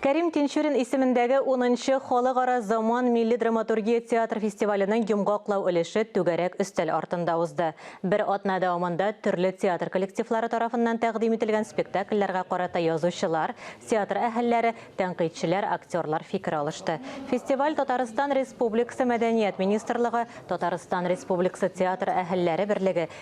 Кәрим Тинчурин исемендәге унынчы Халыкара заман милли драматургия театр фестиваленең йомгаклау өлеше түгәрәк өстәл артында узды. Бер атна дәвамында төрле театр коллективлары тарафыннан тәкъдим ителгән спектакльләргә карата язучылар, театр әһелләре, тәнкыйтьчеләр, актерлар фикер алышты. Фестиваль Татарстан Республикасы Мәдәният министрлыгы, Татарстан Республикасы театр әһелләре берлеге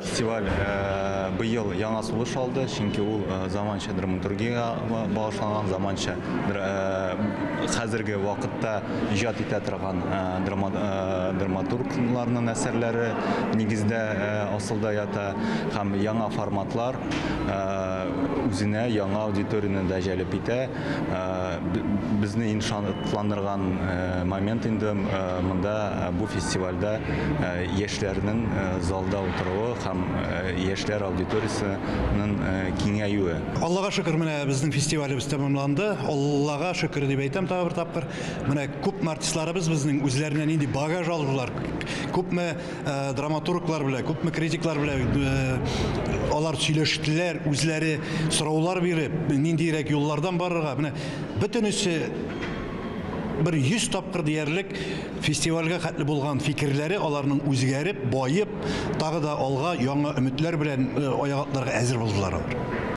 Фестиваль быел яңа сулыш алды, чөнки ул заманча драматургиягә багышланган, заманча хәзерге вакытта иҗат итә торган драматургларның әсәрләре нигездә асылда ята һәм яңа форматлар үзенә яңа аудиторияне дә җәлеп итә. Безне иң шатландырган момент инде монда бу фестивальдә яшьләрнең залда утыруы һәм яшьләр аудиториясенең киңәюе. Аллага шөкер, менә безнең фестивалебез тәмамланды. Аллага шөкер дип әйтәм тагы бер тапкыр. Менә күпме артистларыбыз безнең үзләренә нинди багаж алдылар, күпме Э, драматурглар белән күпме критиклар белән э, алар сөйләштеләр үзләре сораулар биреп ниндирәк юллардан барырга менә бөтенесе бер йөз тапкыр диярлек фестивальгә хәтле булган фикерләре аларның үзгәреп баеп тагы да алга яңа өметләр белән э, аяк әзер булдылар алар